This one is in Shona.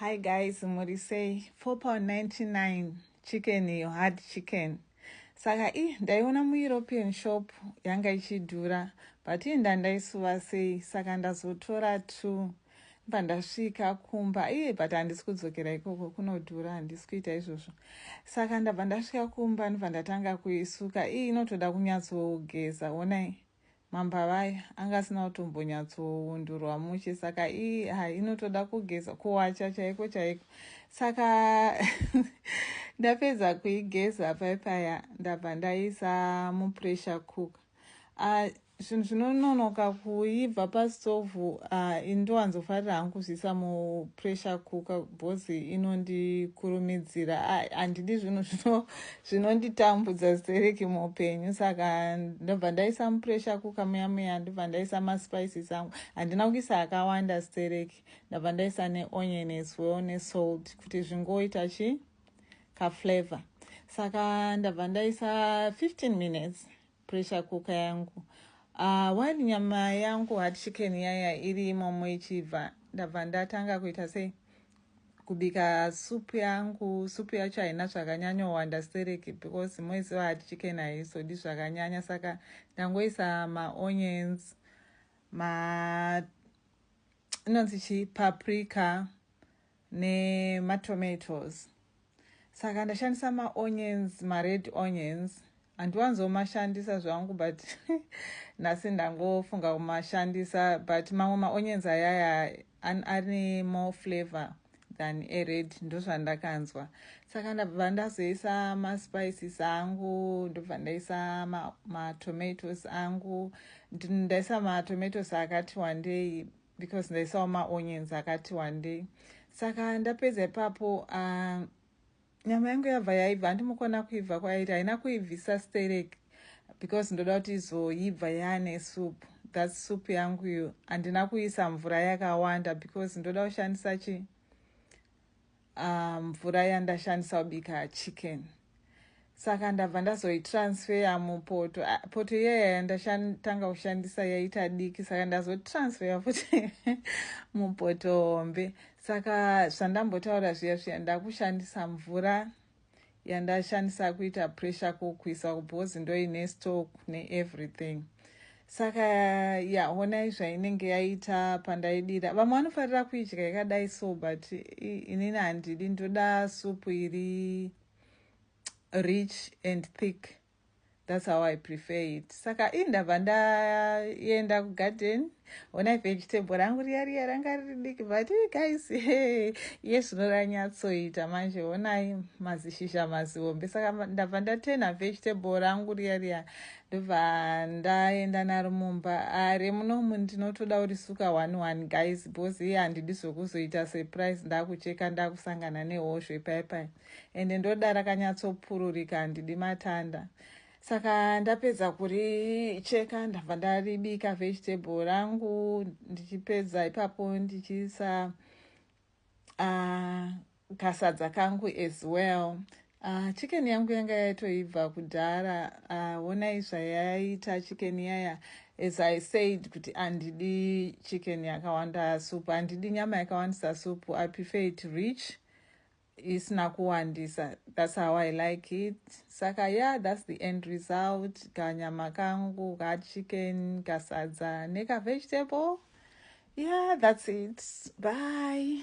Hi guys muri sei 4 pound 99 chicken iyo hard chicken saka i ndaiona mueuropean shop yanga ichidhura but ii ndandaisuva sei saka ndazotora two bva ndasvika kumba iye but handisi kudzokera ikoko kunodhura handisi kuita izvozvo saka ndabva ndasvika kumba ndibva ndatanga kuisuka ii inotoda kunyatsogeza onai Mamba vaya anga asina kutombonyatsoundurwa mushe saka ii ha inotoda kugeza kuwacha chaiko chaiko saka ndapedza kuigeza pai paya ndabva ndaisa mupressure cooker ah, zvinhu uh, zvinononoka kuibva pastovhu uh, ah, indowanzofarira hangu kuzviisa mupressure cooker bhozi inondikurumidzira ah, handidi uh, zvinhu zvino zvinonditambudza stereki muupenyu saka ndobva ndaisa mupressure kuka muya muya ndobva ndaisa maspices angu handina kuisa akawanda stereki ndabva ndaisa neonion as well nesalt kuti zvingoita chi kaflavor saka ndabva ndaisa 15 minutes Pressure cooker yangu ah while nyama yangu hard chicken yaya iri imomo ichibva ndabva ndatanga kuita sei kubika soup yangu soup yacho haina zvakanyanyowanda stereki because moiziva hard chicken haisodi zvakanyanya saka ndangoisa maonions ma inonzi chii paprika nematomatoes saka ndashandisa maonions mared onions handiwanzomashandisa zvangu but nhasi ndangofunga kumashandisa but mamwe maonions ayaya ane more flavor than ered ndozvandakanzwa saka ndabva ndazoisa maspices angu ndobva ndaisa matomatoes angu ndaisa matomatoes akati wandei because ndaisawo maonions akati wandei saka ndapedza ipapo uh, nyama yangu yabva yaibva handimukona kuibva kwairi haina kuibvisa sterek because ndoda kuti izoibva yaane soup that soup yangu iyo handina kuisa mvura yakawanda because ndoda kushandisa chi Ah, mvura yandashandisa kubika chicken saka ndabva ndazoitransfeya mupoto ah, poto iyaya yandatanga kushandisa yaita diki saka ndazotransfeya futi mupoto hombe saka zvandambotaura zviya zviya ndakushandisa mvura yandashandisa kuita pressure kukwisa because ndoine stock ne everything saka ya honai zvainenge yaita pandaidira vamwe vanofarira kuidya yakadai so but inini handidi ndoda supu iri rich and thick That's how I prefer it. Saka ini ndabva ndaenda kugarden ona ife vegetable rangu riya riya ranga riri diki but eh, guys hey, iye zvino ranyatsoita manje onai mazishizha mazihombe saka ndabva ndatena vegetable rangu riya riya ndobva ndaenda naro mumba are ah, munomu ndinotoda kurisuka one one guys because iye handidi zvokuzoita surprise ndakucheka ndakusangana nehozvo ipaipai ende ndoda rakanyatsopururika handidi matanda saka ndapedza kuricheka ndabva ndaribika vegetable rangu ndichipedza ipapo ndichiisa uh, kasadza kangu as well uh, chicken yangu yanga yaitoibva kudhara uh, onai zvayaita chicken yaya as i said kuti handidi chicken yakawanda supu handidi nyama yakawandisa supu i prefer it rich isina kuwandisa that's how i like it saka yeah that's the end result kanyama kangu kachicken kasadza nekavegetable yeah that's it bye